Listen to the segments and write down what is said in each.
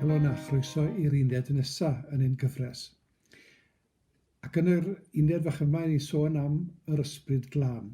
Helo na, chroeso i'r uned nesa yn ein gyfres. Ac yn yr uned fach yma, ni sôn am yr ysbryd glân.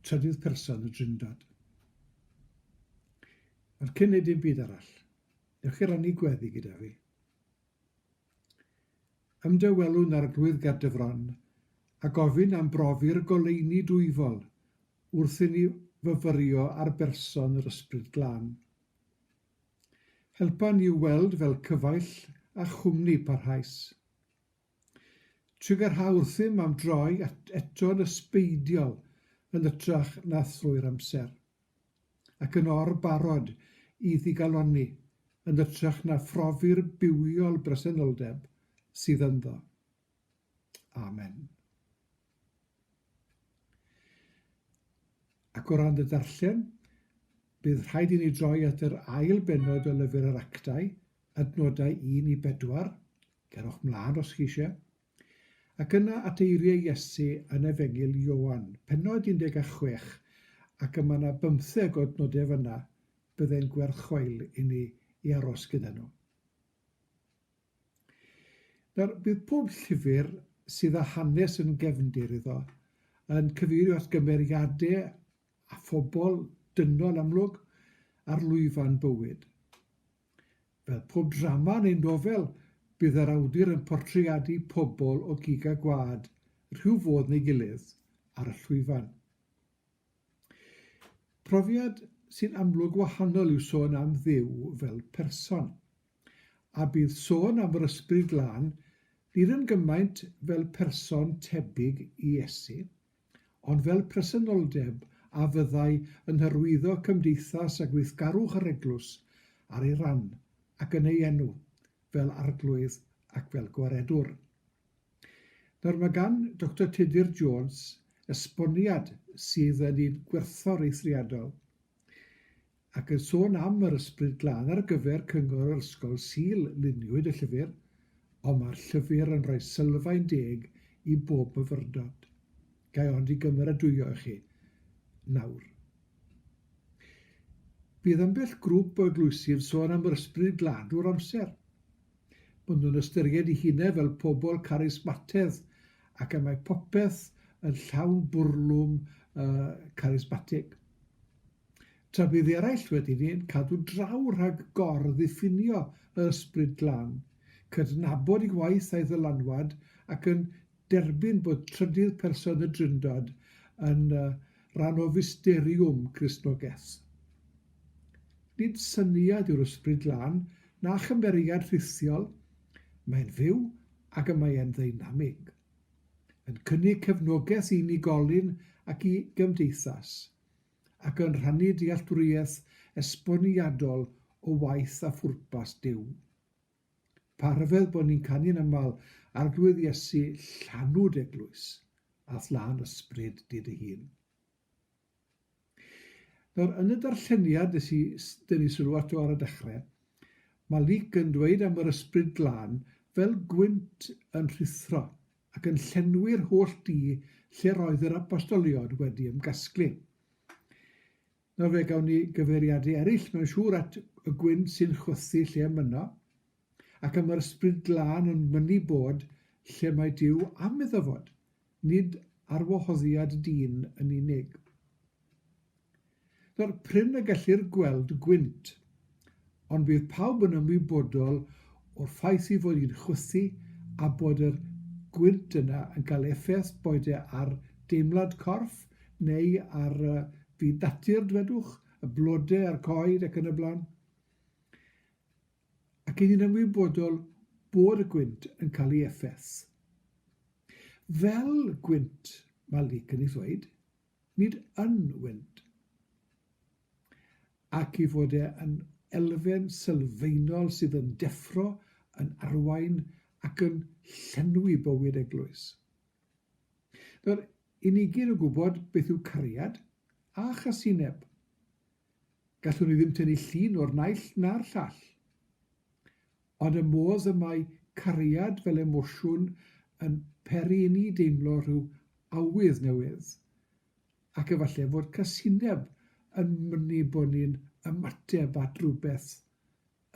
Trydydd person y drindod. Ond cyn neud dim byd arall, newch chi rannu gweddi gyda fi? Ymdawelwn Arglwydd ger dy fron, a gofyn am brofi'r goleuni dwyfol, wrth inni fyfyrio ar berson yr Ysbryd Glân. Helpa ni i'w weld fel cyfaill a chwmni parhaus. Trigarha wrthym am droi eto'n ysbeidiol yn ytrach na thrwy'r amser. ac yn or-barod i ddigalonni yn ytrach na phrofi'r bywiol bresenoldeb sydd ynddo. Amen. Ac o ran y darllen, bydd rhaid i ni droi at yr ail benod o lyfr yr actau, adnodau 1 i 4, cerwch mlaen os chi eisiau, Ac yna at eiriau Iesu yn Efengyl Ioan, pennod 16, ac y mae yna bymtheg o nodau fan'na, byddai'n gwerth chweil i ni i aros gyda nhw. Nawr, bydd pob llyfr sydd â hanes yn gefndir iddo yn cyfeirio at gymeriadau a phobl dynol amlwg ar lwyfan bywyd. Fel pob drama neu nofel, bydd yr awdur yn portreadu pobl o gig a gwlad, rhyw fodd neu gilydd, ar y llwyfan. Profiad sy'n amlwg wahanol yw sôn am Dduw fel person. A bydd sôn am yr Ysbryd Glân, nid yn gymaint fel person tebyg i Iesu, ond fel presenoldeb a fyddai yn hyrwyddo cymdeithas a gweithgarwch yr Eglwys ar ei ran, ac yn ei enw, fel Arglwydd ac fel Gwaredwr. Nawr mae gan Doctor Tudur Jones esboniad sydd yn un gwerthfawr eithriadol. ac yn sôn am yr ysbryd glân ar gyfer Cyngor yr Ysgol Sul luniwyd y llyfr, ond mae'r llyfr yn rhoi sylfaen deg i bob myfyrdod. Ga i ond i gymeradwyo i chi nawr. Bydd ambell grwp o eglwysi yn sôn am yr ysbryd glân drwy'r amser. Maen nhw'n ystyried i hunau fel pobl carismatedd ac y mae popeth yn llawn bwrlwm uh, carismatig. Tra bydd eraill wedi ein cadw draw rhag gor-ddiffinio y Ysbryd Glân, cydnabod ei waith a'i ddylanwad ac yn derbyn bod trydydd person y Drindod yn rhan o fysteriwm Gristnogaeth. Nid syniad yw'r Ysbryd Glân na chymeriad rhithiol, mae'n fyw ac y mae'n ddeinamig, yn cynnig cefnogaeth i unigolyn ac i gymdeithas. ac yn rhannu dealltwriaeth esboniadol o waith a phwrpas Duw. Pa rhyfedd bod ni'n canu'n aml Arglwydd Iesu, llanw d'eglwys, a thlân ysbryd di dy hun. Nawr, yn y darlleniad nes i dynnu sylw ato ar y dechrau, mae Luc yn dweud am yr ysbryd glân fel gwynt yn rhuthro ac yn llenwi'r holl du lle roedd yr apostoliod wedi ymgasglu. Nawr fe gawn ni gyfeiriadau eraill, mae'n siŵr at y gwyn sy'n chwythu lle ymuno, ac am yr ysbryd glân yn mynnu bod lle mae Dyw am iddo fod, nid arwahoddiad dyn yn unig. Daw'r prin y gellir gweld gwynt, ond bydd pawb yn ymwybodol o'r ffaith ei fod hi'n chwythu a bod yr gwynt yna yn cael effaith boed e ar deimlad corff neu ar fyd natur, dwedwch, y blodau a'r coed ac yn y blaen. Ac yn ni'n ymwybodol bod y gwynt yn cael ei effaith. Fel gwynt, mae Luc yn ei ddweud, nid yn wynt, ac i fod e yn elfen sylfaenol sydd yn deffro, yn arwain ac yn llenwi bywyd eglwys. Nawr, i ni gyd yn gwybod beth yw cariad a chasineb. Gallwn ni ddim tynnu llun o'r naill na'r llall. Ond y modd y mae cariad fel emosiwn yn peri inni deimlo rhyw awydd newydd, ac efallai fod casineb yn mynnu bod ni'n ymateb at rywbeth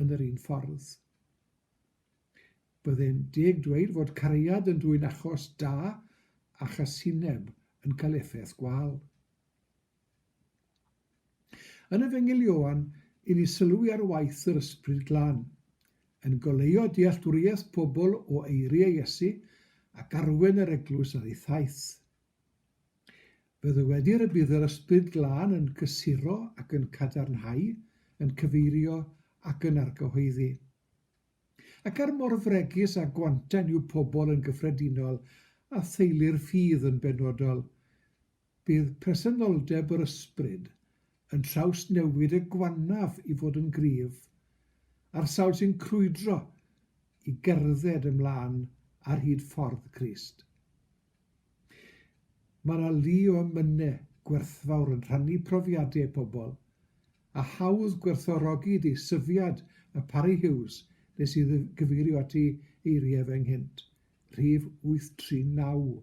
yn yr un ffordd. Byddai'n deg dweud fod cariad yn dwyn achos da a chasineb yn cael effaith gwâl. Yn Efengyl Ioan i ni sylwi ar waith yr Ysbryd Glân, yn goleuo dealltwriaeth pobl o eiriau Iesu ac arwain yr Eglwys ar ei thaith. Fe ddywedir y bydd yr Ysbryd Glân yn cysuro ac yn cadarnhau, yn cyfeirio ac yn argyhoeddi. Ac er mor fregus a gwantan yw pobl yn gyffredinol, a theulu'r ffydd yn benodol, Bydd presenoldeb yr ysbryd yn trawsnewid y gwannaf i fod yn gryf, a'r sawl sy'n crwydro i gerdded ymlaen ar hyd ffordd Crist. Mae yna lu o emynau gwerthfawr yn rhannu profiadau pobl, a hawdd gwerthfawrogi deisyfiad y Parry Hughes nes i gyfeirio at ei eiriau fe ynghynt, Rhif 839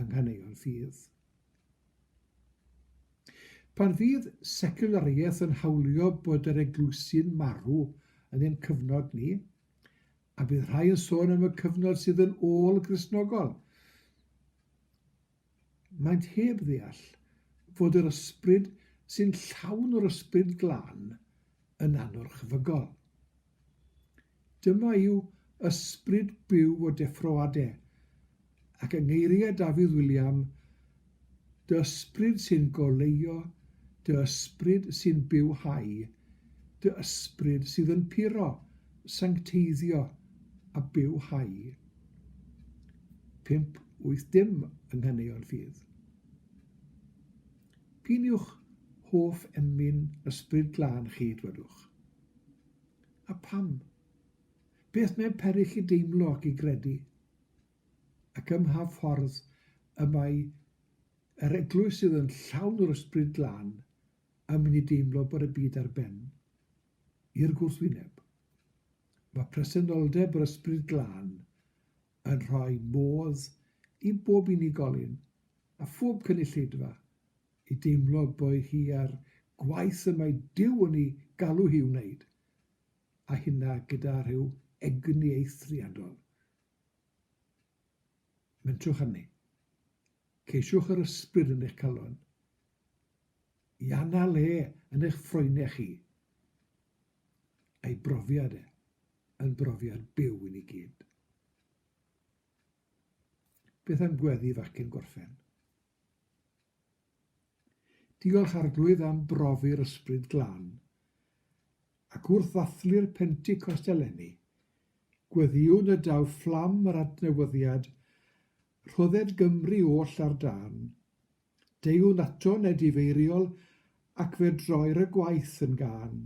yng Nghaneuon Ffydd. Pan fydd seculariaeth yn hawlio bod yr eglwysi'n marw yn ein cyfnod ni, a bydd rhai yn sôn am y cyfnod sydd yn ôl-Gristnogol, Maent heb ddeall fod yr ysbryd sy'n llawn o'r Ysbryd Glân yn anorchfygol. Dyma yw ysbryd byw o deffroade, ac yng ngeiriau Dafydd William, Dy ysbryd sy'n goleuo, dy ysbryd sy'n bywhau, dy ysbryd sydd yn puro, sancteiddio, a bywhau. pump wyth dim yng nghaneuon ffydd. P'un yw'ch hoff emyn ysbryd glân chi, dwedwch? A pam? Beth mae peri chi deimlo ac i gredu? Ac ym mha ffordd y mae yr eglwys sydd yn llawn o'r ysbryd glân yn mynd i deimlo bod y byd ar ben? I'r gwrthwyneb. Mae presenoldeb yr Ysbryd Glân yn rhoi modd i bob unigolyn a phob cynulleidfa i deimlo bod hi a'r gwaith y mae Duw yn ei galw hi i'w wneud, a hynna gyda rhyw egni eithriadol. Mentrwch arni. Ceisiwch yr Ysbryd yn eich calon. I anna le yn eich ffroenau chi. Ei brofiad e, yn brofiad byw i ni gyd. Beth am gweddi facen gorffen? Diolch Arglwydd am brofi'r ysbryd glân, ac wrth ddathlu'r Pentecost eleni, gweddiwn y daw fflam yr adnewyddiad, rhodded Gymru oll ar dân, Deuwn nato ned ifeiriol ac fe droir y gwaith yn gân.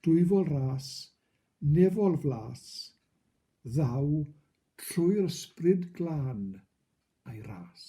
Dwyfol ras, nefol flas, ddaw trwy'r ysbryd glân a'i ras.